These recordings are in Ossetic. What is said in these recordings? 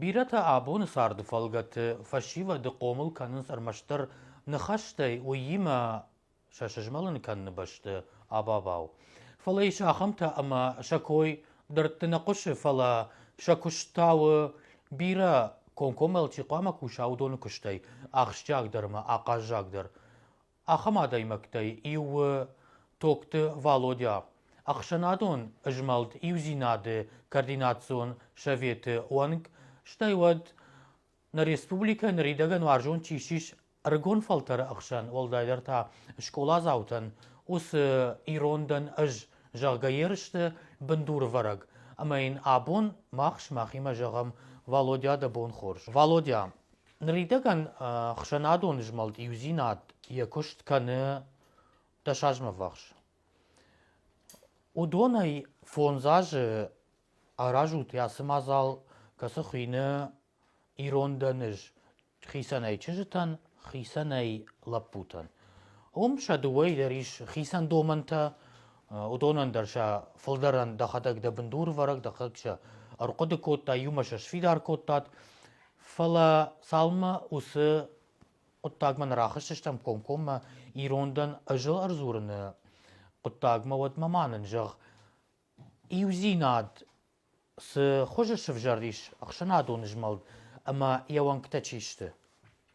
Бирӕтӕ абоны царды фӕлгӕты фӕсивӕды хъомыл кӕнынц ӕрмӕстдӕр ныхӕстӕй, уыимӕ сӕ сызмӕлын кӕныны бӕсты абабау. Фӕлӕ ис ахӕмтӕ, ӕмӕ сӕ кой дӕрдты нӕ хъуысы, фӕлӕ сӕ куыст та у бирӕ комкоммӕ чи хъуамӕ куса, уыдоны куыстӕй ахсджиагдӕр ӕмӕ ахъаззагдӕр. Ахӕм адӕймӕгтӕй иу у Токты Валодя, ӕхсӕнадон змӕлд Иудзинад-ы координацион советы уӕнг, стӕй уӕд нӕ республикӕ ныридӕгӕн уарзон чи ссис ӕрыгон фӕлтӕры ӕхсӕн, уӕлдайдӕр та скъоладзаутӕн, уыцы ирон дӕн ӕз, зӕгъгӕ ерысты бындурвӕрӕг. Ӕмӕ йын абон мах сымахимӕ зӕгъӕм Валодя дӕ бон хорз. Валодя, Ныридӕгӕн ӕхсӕнадон змӕлд Иудзинад йӕ куыст кӕны дӕсазмӕввахс. Уыдонӕй фондз азы аразут ацы мадзал, кӕцы хуыйны Ирон дӕ ныз хицӕнӕй чызджытӕн, хицӕнӕй лӕппутӕн. Уым сӕ дыууӕйы дӕр ис хицӕн домӕнтӕ, уыдонӕн дӕр сӕ фылдӕрӕн дӕхӕдӕг дӕ бындурвӕрӕг, дӕхӕдӕг сӕ ӕрхъуыды кодтай, иумӕ сӕ сфидар кодтат. Фӕлӕ цалынмӕ уыцы хъуыддагмӕ нӕ рахызтыстӕм комкоммӕ ирон дӕн ӕзыл ӕрдзурыны хъуыддагмӕ, уӕдмӕ ма нын зӕгъ, иудзинад цы хуызы сӕвзӕрдис ӕхсӕнадон змӕлд ӕмӕ йӕ уӕнгтӕ чи сты?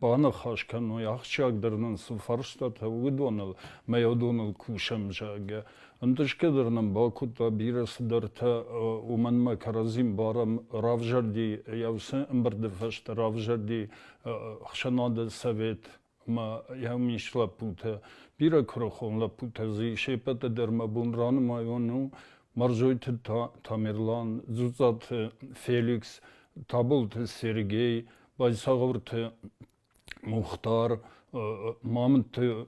баныхас кӕной ахсджиагдӕр нын цы фарстатӕ уыдоныл мӕ уыдоныл кусӕм зӕгъгӕ ӕнтысгӕ дӕр нын бакодта бирӕ цыдӕртӕ уымӕнмӕ кӕрӕдзин барам равзӕрди йӕ уыцы ӕмбырды фӕстӕ равзӕрди ӕхсӕнады совет ӕмӕ йӕ мис лӕппутӕ бирӕ куырыхон лӕппутӕ дзы се ппӕты дӕр мӕ бон ранымайон у Мӕрзойты Тамерлан, Дзуццаты Феликс, Таболты Сергей, Базсагъурты Мухтар, Мамынты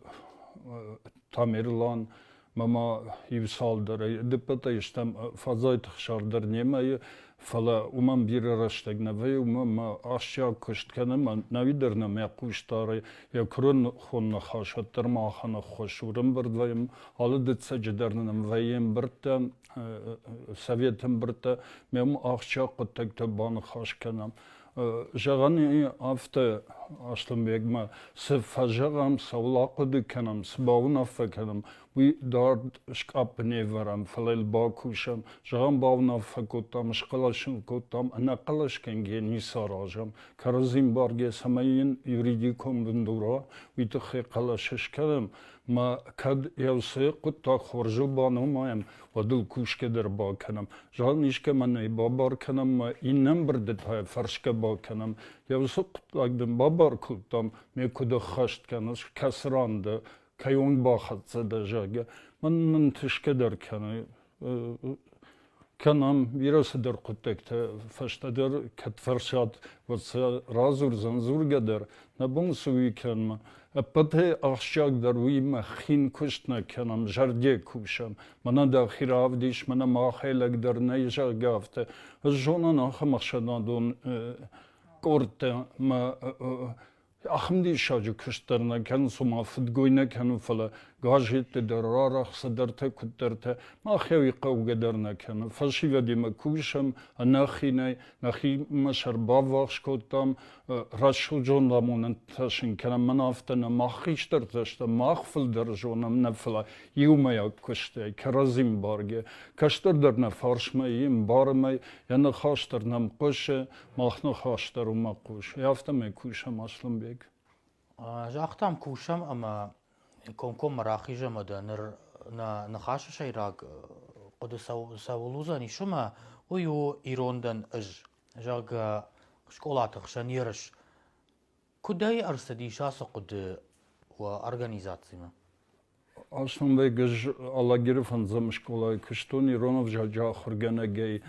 Тамерлан, мӕ иу цалдӕр ӕрдыппӕтӕй стӕм фӕзайты хсар дӕр немӕ, фӕлӕ уымӕн бирӕ рӕстӕг нӕ вӕййы, уымӕ мӕ ахсджиаг куыст кӕнӕм, ӕви дӕр нӕ мӕ хъусдарӕй йӕ куырыхон ныхас уӕддӕр махӕн ӕххуыс у. Ӕрӕмбырд вӕййӕм, алы дыццӕджы дӕр нын вӕййы ӕмбырдтӕ, советы ӕмбырдтӕ, мӕм ахсджиаг хъуыддӕгтӕ баныхас кӕнӕм. Зӕгъӕн и афтӕ Аслӕнбегмӕ, цы фӕзӕгъӕм, цӕуыл ахъуыды кӕнӕм, цы бауынаффӕ кӕнӕм, уый дард скъаппы не вӕрӕм, фӕлӕ йыл бакусӕм. Зӕгъӕм, бауынаффӕ кодтам, схъӕлӕсын кодтам, ӕнӕхъӕлӕсгӕнгӕ ницы аразӕм, кӕрӕдзийын баргӕ, цӕмӕй йын юридикон бын дура, уый тыххӕй хъӕлӕс скӕнӕм, ма кӕд Елсӕйы хъуыддаг хорзыл баномайӕм, Хъӕдыл кусгӕ дӕр бакӕнӕм, зӕгъӕм, искӕмӕн ӕй бабар кӕнӕм мӕ иннӕмбырды та фӕрсгӕ бакӕнӕм. Йӕ уыцы хъуыддаг дын бабар кодтам, ме куыд ӕххӕст кӕныс, кӕцы ран дӕ, кӕйон бахӕццӕ дӕ, зӕгъгӕ. Мӕн мын тысгӕ дӕр кӕны кӕнӕм, бирӕ цыдӕр хъуыддӕгтӕ фӕстӕдӕр кӕд фӕрсат, уӕд сӕ радзурдзӕн дзургӕ дӕр, нӕ бон цы уый кӕнмӕ. Ӕппӕтӕй ахсджиагдӕр уыимӕ хин куыст нӕ кӕнӕм, зӕрде кусӕм. Мӕнӕ дӕхи равдис, мӕнӕ махӕй лӕгдӕр нӕй, зӕгъгӕ, афтӕ. Ӕз зонын ахӕм ӕхсӕнадон къордтӕ мӕ ахӕм диссаджы куыст дӕр нӕ кӕнын, цума фыдгой нӕ кӕнын, фӕлӕ газетты дӕр, арӕх цыдӕртӕ, куыддӕртӕ махӕй хъӕугӕ дӕр нӕ кӕнын. Фӕсивӕдимӕ кусӕм ӕнӕхинӕй, нӕхимӕ сӕр баввахс кодтам, рӕсугьд ламонӕнтӕ шин кӕнӕм, мӕн афтӕ нӕ мах хистӕртӕ сты, мах фылдӕр зонӕм нӕ фӕлӕ иумӕйаг куыстӕй, кӕрӕдзим бӕргӕ. Кӕстӕрдӕр нӕ фарсмӕ им, бармӕ, йӕ ныхас дӕр нӕм хъуысы, мах ныхас дӕр уымӕ хъусы. Афтӕмӕй кусӕм Аслӕнбег. Загътам, кусӕм ӕмӕ комкоммӕ рахизӕм ӕдӕ ныр нӕ ныхасы сӕйраг хъуыды цӕуыл уыдзӕн ис уымӕ, уый у ирондӕн ӕз. зӕгъгӕ, скъолаты хсӕн ерыс куыдӕй ӕрцыдис ацы хъуыды уӕ организацимӕ? Ацумбей Гӕз Алагиры фӕндзӕм скъолайы куыстон ирон ӕвзаджы ахуыргӕнӕгӕй.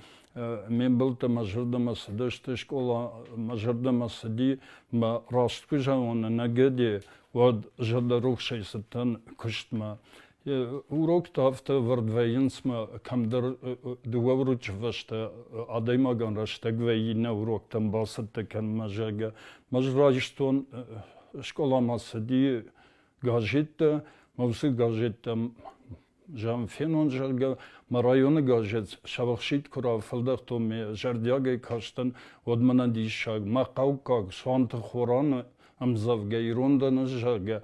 Ме мбӕлттӕ мӕ зӕрдӕмӕ цыдысты, скъола мӕ зӕрдӕмӕ цыди, мӕ раст куы зӕгъон ӕнӕгӕде, уӕд зӕрдӕрухсӕй цыдтӕн куыстмӕ. Уроктӕ афтӕ ӕвӕрд вӕййынц мӕ кӕмдӕр дыууӕ урочы фӕстӕ адӕймагӕн рӕстӕг вӕййы нӕ уроктӕм бацӕттӕ кӕнынмӕ, зӕгъгӕ. Ӕз райстон скъоламӕ цыди газеттӕ, мӕ уыцы газеттӕм зӕгъӕм фенон, зӕгъгӕ, мӕ районы газет Сӕвӕхситт куы рафӕлдӕхтон, ме зӕрдиагӕй кастӕн, уӕд мӕнӕн диссаг, мӕ хъӕуккаг Суанты Хораны ӕмдзӕвгӕ ирондӕн ӕз, зӕгъгӕ,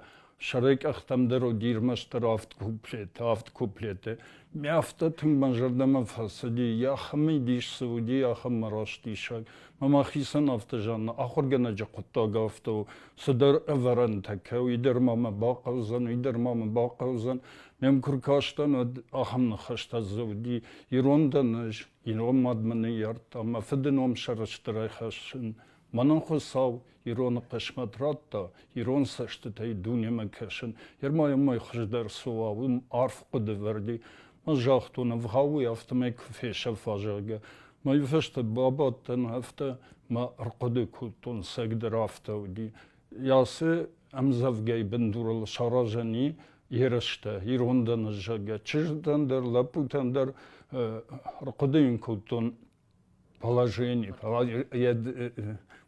сӕрӕй къӕхтӕм дӕр уыди ӕрмӕстдӕр авд куплеты, авд куплеты. Ме афтӕ тынг мӕ зӕрдӕмӕ фӕцыди, йӕ ахӕмӕй дис цы уыди, ахӕм мӕрастисӕг. Мӕ ма хицӕн афтӕ зӕгъын, ахуыргӕнӕджы хъуыддаг афтӕ у, цыдӕр ӕвӕрӕнтӕ кӕуы, уый дӕр ма мӕ бахъӕудзӕн, уый дӕр ма мӕ бахъӕудзӕн. Ме м куы ркастӕн, уӕд ахӕм ныхӕстӕ дзы уыди, Ирон дӕн ӕз, ирон мад мӕ ныййард, ӕмӕ фыды ном сӕрыстырӕй хӕссын, Мӕнӕн Хуыцау ироны хъысмӕт радта ирон цӕстытӕй дунемӕ кӕсын. Германиумӕй хуыздӕр цы уа, уым арф хъуыды вӕрди. Ӕз загътон, ӕвгъауӕй афтӕмӕй куы фесӕфа, зӕгъгӕ. Мӕ иуфӕстӕ бабадтӕн, афтӕ мӕ ӕрхъуыды кодтон, сӕгдӕр афтӕ уыди. Ясы ӕмдзӕвгӕйы бындурыл саразӕн и ерыстӕ, ирон дӕн, зӕгъгӕ. Чызгтӕн дӕр, лӕппутӕн дӕр ӕрхъуыды йын кодтон положение,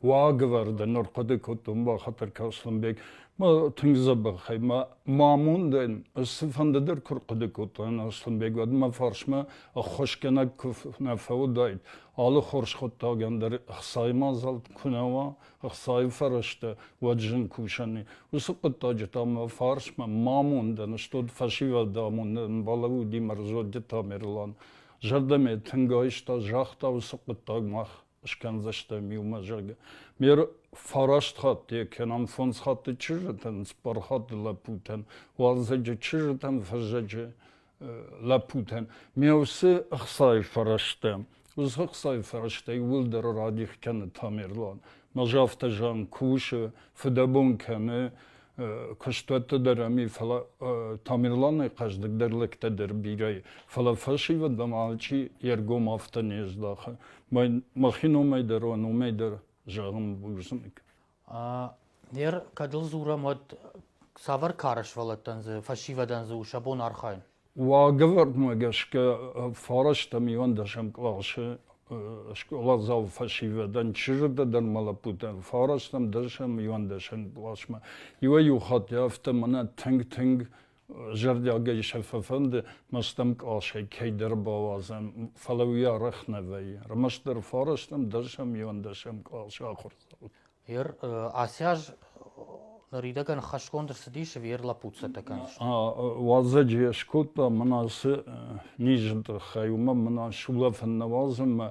уагӕвӕрдӕ ныр хъуыды кодтон, бахатыр Касланбег, мӕ тынг дзӕбӕхӕй, мӕ амондӕн, ӕз цыфӕнды дӕр куы рхъуыды кодтаин Аслӕнбег, уӕд мӕ фарсмӕ ӕххуысгӕнӕг куы нӕ фӕуыдаид, алы хорз хъуыддагӕн дӕр ӕхцайы мадзал куы нӕ уа, ӕхцайы фӕрӕзтӕ, уӕд зын кусӕн и. Уыцы хъуыддаджы та мӕ фарсмӕ, мӕ амондӕн, стут фӕсивӕды амондӕн балӕууыди мӕ зондджын Тамерлан. Зӕрдӕмӕ тынг айста, загъта уыцы хъуыддаг мах скӕндзыстӕм иумӕ, зӕгъгӕ. Ме фараст хатты кӕнӕ фондз хатты чызджытӕн, цыппар хатты лӕппутӕн, уалдзӕджы чызджытӕн, фӕззӕджы лӕппутӕн. Ме уыцы ӕхцайы фӕрӕзтӕ, уыцы ӕхцайы фӕрӕзтӕй уӕлдӕр радих кӕны Тамерлан. Мӕ афтӕ зӕгъӕм, кусы, фыдӕбон кӕны, куыстуӕтты дӕр ами, фӕлӕ Тамерланы хъӕздыгдӕр лӕгтӕ дӕр бирӕ и, фӕлӕ фӕсивӕд ам алчи йе ргом афтӕ не здахы. Мӕхи номӕй дӕр, уӕ номӕй дӕр зӕгъын бузныг. Нер, кӕд ыл дзурӕм, уӕд цавӕр кары сывӕллӕттӕн дзы, фӕсивӕдӕн дзы у сӕ бон архайын? Уагӕвӕрдмӕ гӕсгӕ фарастӕм иуӕндӕсӕм къласы скъоладзау фӕсивӕдӕн, чызджытӕ ма лӕппутӕн фарастӕм, дӕсӕм, иуӕндӕсӕм къласмӕ иуӕй-иу хатт афтӕ мӕнӕ тынг-тынг зӕрдиагӕй сӕ фӕфӕнды мӕстӕм къласӕй кӕйдӕр бауадзӕм, фӕлӕ уый арӕх нӕ вӕййы. Ӕрмӕстдӕр фарастӕм, дӕсӕм, иуӕндӕсӕм къласы ахуырдзау. Ер ацы аз ныридӕгӕн хӕсгонд ӕрцыдис Вер Лапуцатӕ кӕныс. Уазӕджы скодта мӕн ацы низы тыххӕй, уымӕн мӕн сулӕфын нӕ уадзын мӕ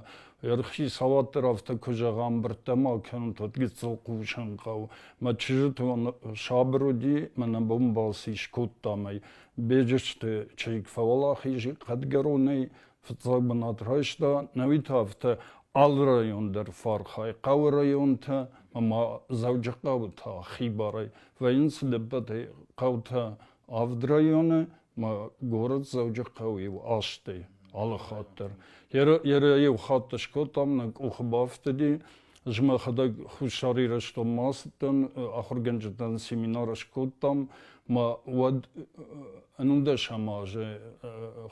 ӕрхи салат дӕр афтӕ куы зӕгъа, ӕмбырдтӕ ма кӕнын, уӕд гыццыл хъусын хъӕуы. Мӕ чызджытӕн сабыр уыди, мӕнӕ бон балц скодтам ӕй. Беджызты чызг фӕуӕлахиз хъӕдгӕронӕй, Фыццаг бынат райста нӕуи тавта алы район дӕр фархӕй, хъӕуы районтӕ ӕмӕ Дзӕуджыхъӕуы та хибарӕй. Вӕййынц дыппӕтӕй хъӕутӕ авд районы ӕмӕ город Дзӕуджыхъӕу-иу азты алы хатт дӕр. Йӕ йӕ иу хатт скодтам, нӕ къухы бафтыди, Ӕз мӕхӕдӕг Хуссар Ирыстонмӕ ацыдтӕн, ахуыргӕнджытӕн семинар скодтам, мӕ уӕд ӕнундӕсӕм азы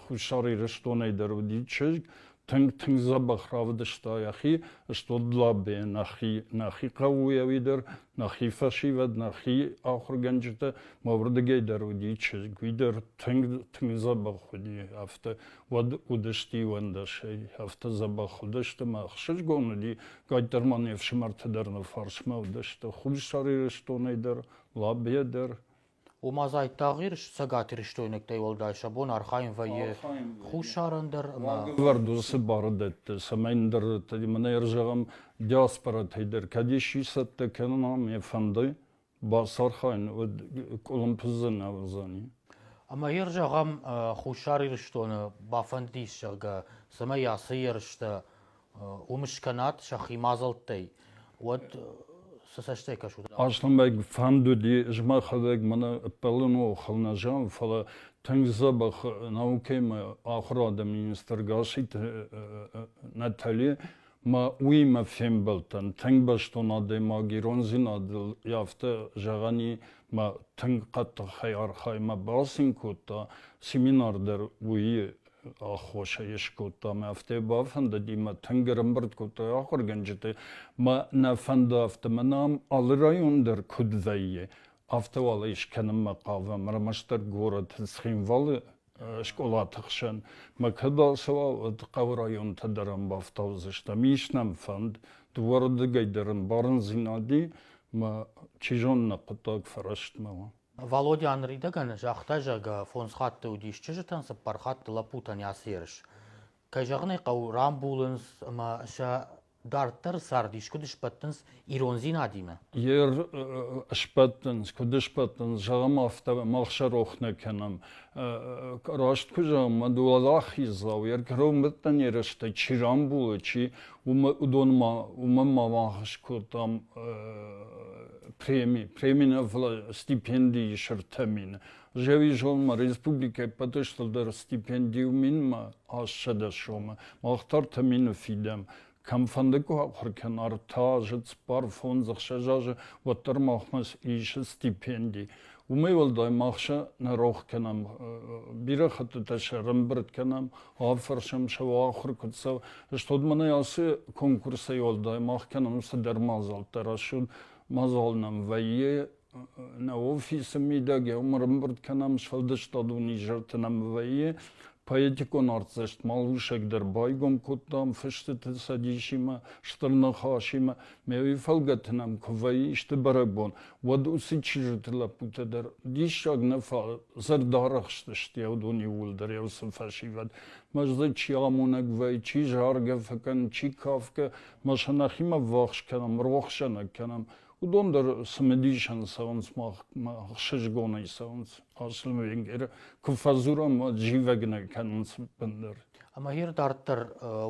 Хуссар Ирыстонӕй дӕр уыди чызг, тынг, тынг дзӕбӕх равдыста йӕхи, стут Длабе, нӕхи, нӕхи хъӕуйӕуи дӕр, нӕхи фӕсивӕд, нӕхи ахуыргӕнджытӕ, мӕ уырдыгӕй дӕр уыди чызг, уый дӕр тынг, тынг дзӕбӕх уыди, афтӕ уӕд уыдысты иуӕндӕсӕй. Афтӕ дзӕбӕх уыдысты мӕ ӕхсызгон уыди, кӕддӕр ма не фсымӕрты дӕр нӕ фарсмӕ уыдысты, Хуссар Ирыстонӕй дӕр, Лабийӕ дӕр. Ома Зайттагъ Ирыс цӕгатирыстойнӕгтӕй уӕлдай сӕ бон архайын вӕййы хуссарӕн дӕр ӕмӕ уавӕр уыцы бары дӕтты, цӕмӕй ныр мӕнӕ зӕгъӕм диаспоратӕй дӕр кӕд исчи цӕттӕ кӕнын ам йӕ фӕнды, Бацархайын уыд къуылымпыдзынӕ уыдзӕни. Ӕмӕ йыр зӕгъӕм, Хуссар Ирыстоны бафӕндис, зӕгъгӕ, цӕмӕй ацы ерыстӕ уым скӕнат сӕхи мадзӕлттӕй, уӕд цы цӕстӕй кӕсут? Аслӕнбег фӕнд уыди, ӕз мӕхӕдӕг мӕнӕ ӕппӕлыныл хыл нӕ зӕгъын, фӕлӕ тынг дзӕбӕх наукӕимӕ ахуырады министр Гасситы Натали ма уыимӕ фембӕлдтӕн тынг бӕстон адӕймаг ирондзинадыл афтӕ зӕгъӕни ма тынг хъӕддыхӕй архаймӕ бацин кодта семинар дӕр уыйы аххосӕй скодта ӕмӕ афтӕ бафӕндыди мӕ тынг ӕрӕмбырд кодта ахуыргӕнджыты мӕ нӕ фӕнды афтӕ мӕнӕм алы район дӕр куыд вӕййы афтӕ уал ӕй скӕнынмӕ хъавӕм ӕрмӕстдӕр горӕты цхинвалы скъолаты хсӕн мӕ кӕд ацӕуа, уӕд хъӕуы районтӕ дӕр ам бафтаудзыстӕм. Ис нӕм фӕнд, дыууӕрдыгӕй дӕр ӕмбарындзинад и, мӕ чи зоны, хъуыддаг фӕрӕстмӕ уа. Валодя ныридӕгӕн загъта, зӕгъгӕ, фондз хатты уыдис чызджытӕн, цыппар хатты лӕппутӕн йацы ерыс. Кӕй зӕгъын ӕй хъӕуы, рамбулынц ӕмӕ сӕ Дарддӕр цардис куыд сбӕттынц ирондзинадимӕ? Йе сбӕттынц, куыд сбӕттынц, зӕгъӕм афтӕ, мах сӕ рох нӕ кӕнӕм. Раст куы зӕгъӕм, мад уӕлахиздзау, йӕ кӕронбӕттӕн ерыстӕ чи рамбулы, чи уыдонмӕ, уымӕн ма бахӕс кодтам преми, преми нӕ фӕлӕ стипендийы сырдтӕ мин. Зӕгъизонмӕ республикӕ ӕппӕтӕй стырдӕр стипендийыл минмӕ ассӕдӕ сомы, мах та ӕртӕ мины фидӕм. Кӕмфӕнды куы ахуыр кӕна ӕртӕ азы, цыппар фондз, ӕхсӕз азы, уӕддӕр махмӕ ис стипенди. Уымӕй уӕлдай мах сӕ нӕ рох кӕнӕм, бирӕ хӕттытӕ сӕ ӕрӕмбырд кӕнӕм, афӕрсӕм сӕ ахуыр куыд цӕуы. Стӕй мӕнӕ ацы конкурсӕй уӕлдай мах кӕнӕм цыдӕр мадзӕлттӕ, рӕсугъд мадзал нӕм вӕййы Нӕ офисы мидӕгӕй ӕрымбырд кӕнӕм сфӕлдыстадон изӕрты нӕм вӕййы поэтикон артдзӕст малусӕг дӕр байгом кодтам фыстыты цӕдисимӕ, стыр ныхасимӕ. Ме уый фӕлгӕты нӕм куы вӕййы сты бӕрӕгбон, уӕд уыцы чызджыты лӕппутӕ дӕр диссаг нӕ зӕрдӕрӕхстысты йӕ иууылдӕр йӕ уыцы фӕсивӕд. Мӕ зӕд чи амонӕг вӕййы, чи заргӕ фӕкӕны, чи кафгӕ, мӕ сӕ нӕхимӕ ввахс кӕнӕм, рохсӕнӕг кӕнӕм. Уыдон дӕр цымыдисӕн цӕуынц мах ӕхсызгонӕй цӕуынц Арслан Венгеры, куы фӕдзурӕм, уӕд зивӕг нӕ кӕнынц бындӕр. Ӕмӕ ир дарддӕр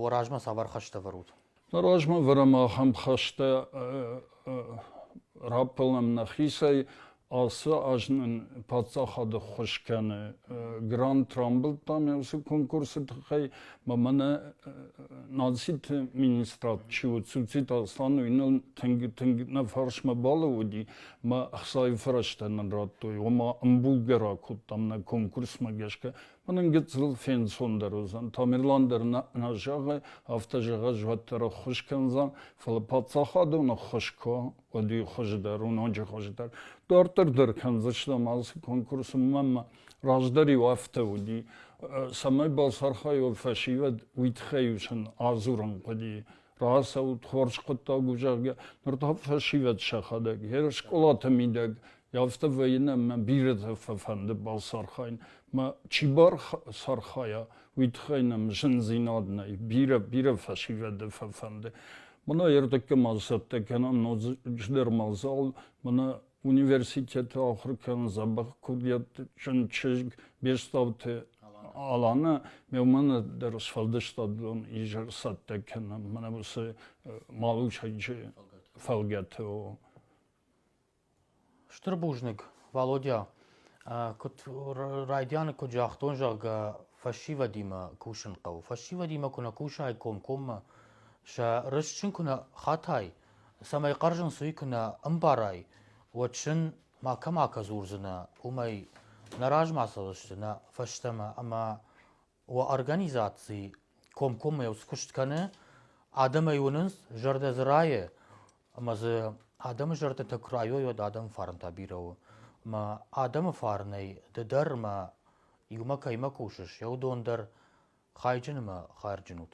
уӕ размӕ цавӕр хӕстӕ вӕрут? Нӕ размӕ вӕрӕм ахӕм хӕстӕ, раппӕлӕм нӕхицӕй, Ацы аз нын паддзахады ххуыс кӕны грант рамбылдтам йӕ уыцы конкурсы тыххӕй, ӕмӕ мӕнӕ нациты министрад чи у Цуцит Аслан, уый ныл тынг тынг нӕ фарсмӕ балӕууыди, ӕмӕ ӕхцайы фӕрӕзтӕ нын радтой, ома ӕмбулгӕ ракодтам нӕ конкурсмӕ гӕсгӕ. Мӕнӕн гыццыл фенцондӕр уыдзӕн. Тамерлан дӕр нӕ зӕгъы, афтӕ зӕгъӕс уӕддӕр ӕххуыс кӕндзӕн, фӕлӕ паддзахадон ӕххуыс куы уӕд и хуыздӕр у ноджы хуыздӕр дарддӕр дӕр кӕндзыстӕм алцы конкурсы мӕ раздӕр-иу афтӕ уыди цӕмӕй балцархайой фӕсивӕд уый тыххӕй у сын адзурын хъуыди рацӕут хорз хъуыддаг у зӕгъгӕ ныр та фӕсивӕд сӕхӕдӕг йӕ скъолаты мидӕг афтӕ вӕййын ӕмӕ бирӕтӕ фӕфӕнды балцархайын мӕ чи барцархайа уый тыххӕй нӕм зындзинад нӕй бирӕ бирӕ фӕсивӕды фӕфӕнды Мына ӕртӕккӕ мал цӕттӕ кӕнӕм ноджыдӕр мадзал, мына университеты ахуыр кӕнын дзӕбӕх куырдиӕтты чызг Бестауты Алана, ме мӕнӕ дӕр сфӕлдыстадон изӕр цӕттӕ кӕнӕм, мӕнӕ уыцы Малусӕджы фӕлгӕты. Стыр бузныг, Валодя. Куыд райдианы куыд загътон, зӕгъгӕ, фӕсивӕдимӕ кусын хъӕуы. Фӕсивӕдимӕ куы нӕ кусай комкоммӕ, сӕ рыст куы нӕ хатай, цӕмӕй хъӕрзын суй куы нӕ ӕмбарай, уӕд сын макӕмӕ дзурдзынӕ, уымӕй нӕ размӕ цӕудзысты нӕ фӕстӕмӕ ӕмӕ Уӕ организаци комкоммӕ скуыст кӕны, адӕмӕй уынынц зӕрдӕ дзы райы, ӕмӕ дзы адӕмы зӕрдӕтӕ куы райой, уӕд адӕмы фарнтӕ бирӕ у. Ӕмӕ адӕмы фарнӕй ды дӕр ӕмӕ иумӕ кӕимӕ кусыс, йӕ уыдон дӕр хайджын ӕмӕ хайырджын ут.